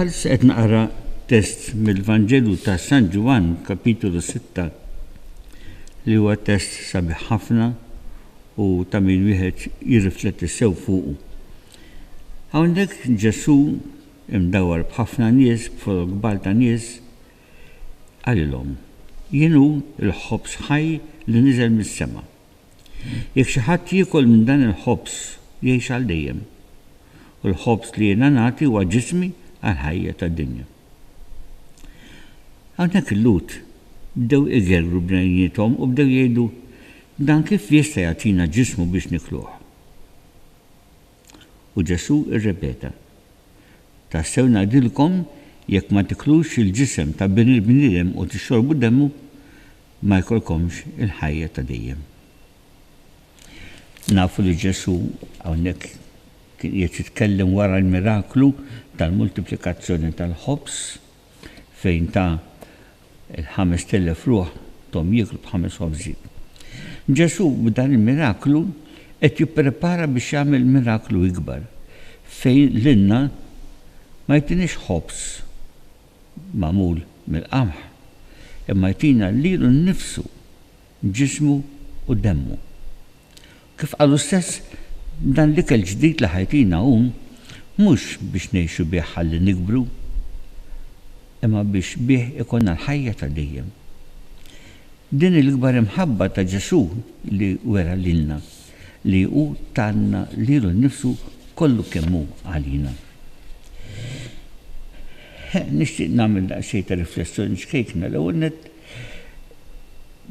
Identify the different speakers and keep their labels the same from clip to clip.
Speaker 1: Bħalissa qed naqra test mill-Vanġelu ta' San Ġwann, kapitolu 6, li huwa test sabiħ ħafna u ta' min wieħed jirrifletti sew fuqu. Hawnhekk Ġesù imdawwar b'ħafna nies, b'forom kbar ta' nies, qalilhom, Jien hu l-ħobż ħaj li niżel mis-sema. Jekk xi ħadd jiekol minn dan il-ħobż, jgħix għal dejjem. U l-ħobż li jiena nagħti huwa ġismi għall-ħajja tad-dinja. Hawnhekk il-Lhud bdew igergru bnejniethom u bdew jgħidu, Dan kif jista' jagħtina ġismu biex nikluh? U Ġesù irrepeta, Tassew ngħidilkom, jekk ma tiklux il-ġisem ta' Bin il-bniedem u tixxorbu demmu, ma jkollkomx il-ħajja ta' dejjem. Nafu li Ġesù hawnhekk kien qiegħed jitkellem wara l-miraklu tal-multiplikazzjoni tal-ħobż, fejn ta l-ħamest elef ruħ thom jieklu b'ħames ħobżi. Ġesù b'dan il-miraklu qed jipprepara biex jagħmel miraklu ikbar, fejn lilna ma jtiniex ħobż magħmul mill-qamħ, imma jtina lilu nnifsu, ġismu u demmu. Kif qalu stess, dan l-ikel ġdid li ħajtina hu mhux biex ngħixu bih ħalli nikbru, imma biex bih ikollna l-ħajja ta' dejjem. Din hi l-ikbar imħabba ta' Ġesù li wera lilna, li hu tana lilu nnifsu kollu kemm hu għalina. Nixtieq nagħmel daqsxejn ta' riflessjoni ċkejkna. L-ewwel nett,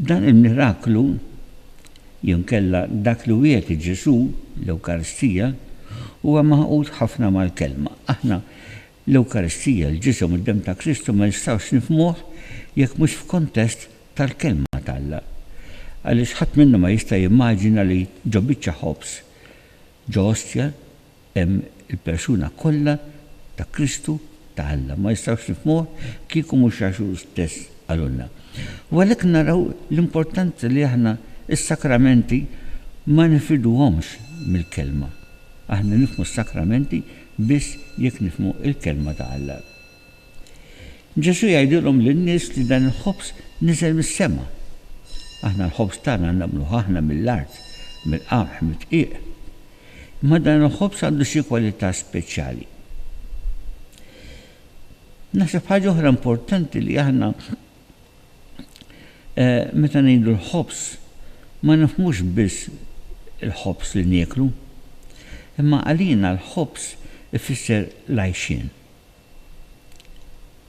Speaker 1: Dan il-miraklu, jew inkella dak li wiegħed Ġesù, l-Ewkaristija, huwa magħqud ħafna mal-Kelma. Aħna l-Ewkaristija, l-Ġisem u d-Demm ta' Kristu ma nistgħux nifhmuh jekk mhux f'kuntest tal-Kelma t'Alla. Għaliex ħadd minna ma jista' jimmaġina li ġo biċċa ħobż, ġo ostja, Hemm il-persuna kollha ta' Kristu, ta' Alla. Ma nistgħux nifhmuh kieku mhux għax hu stess qalulna. U għalhekk naraw l-importanza li aħna s-sakramenti ma nifirduhomx mill-Kelma. Aħna nifhmu s-sakramenti biss jekk nifhmu l-Kelma ta' Alla. Ġesù jgħidilhom lin-nies li dan il-ħobż niżel mis-sema. Aħna l-ħobż tagħna nagħmluh aħna mill-art, mill-qamħ mid-dqiq. Imma dan il-ħobż għandu xi kwalità speċjali. Naħseb ħaġa oħra importanti li aħna eh, meta ngħidu l-ħobż ma nifhmux biss il-ħobż li nieklu, imma għalina l-ħobż ifisser l-għajxien.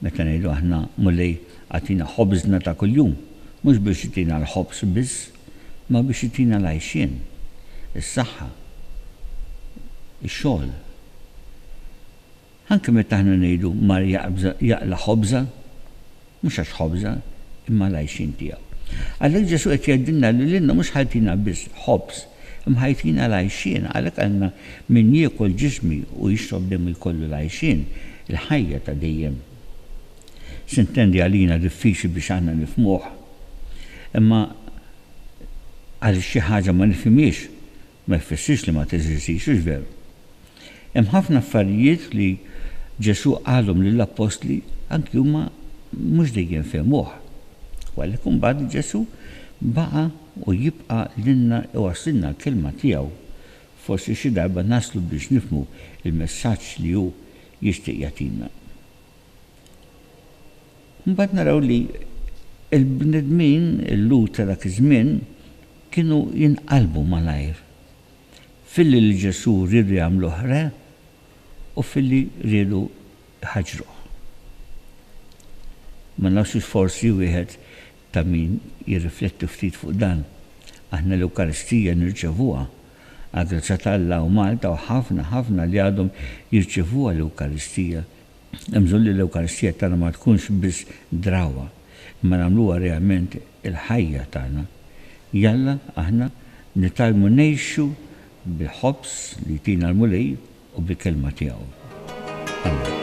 Speaker 1: Meta ngħidu aħna, Mulej, agħtina ħobżna ta' kuljum, mhux biex itina l-ħobż biss, imma biex itina l-għajxien, is-saħħa, ix-xogħol. Anke meta aħna ngħidu, Mar jaqla' ħobża. Mhux għax ħobża, imma l-għajxien tiegħu. Għalhekk Ġesù qed jgħidilna li lilna mhux ħa jtina biss ħobż, imma ħa jtina l-għajxien. Għalhekk qalna, Min jiekol ġismi u jixrob demu jkollu l-għajxien, il-ħajja ta' dejjem. Sintendi għalina diffiċli biex aħna nifhmuh. Imma għaliex xi ħaġa ma nifhimhiex, Ma jfissirx li ma teżistix, hux veru? Hemm ħafna affarijiet li Ġesù qalhom lill-appostli anki huma mhux dejjem fehmuh. U għalhekk imbagħad Ġesù baqa' u jibqa' lilna iwasslilna l-kelma tiegħu. Forsi xi darba naslu biex nifhmu l-messaġġ li hu jixtieq jagħtina. Imbagħad naraw li l-bnedmin, il-Lhud ta' dak iż-żmien, kienu jinqalbu malajr filli lil Ġesù riedu jagħmluh re u filli riedu jħaġġruh. Ma nafx hux forsi wieħed ta' min jirrifletti ftit fuq dan. Aħna l-Ewkaristija nirċevuha, għall-grazzja t'Alla u Malta u ħafna, ħafna li għadhom jirċevuha l-Ewkaristija, Hemm bżonn li l-Ewkaristija tagħna ma tkunx biss drawwa, imma nagħmluha realment il-ħajja tagħna. Jalla aħna nitgħallmu ngħixu bil-ħobż li jtina l-Mulej u bil-Kelma tiegħu. Amen.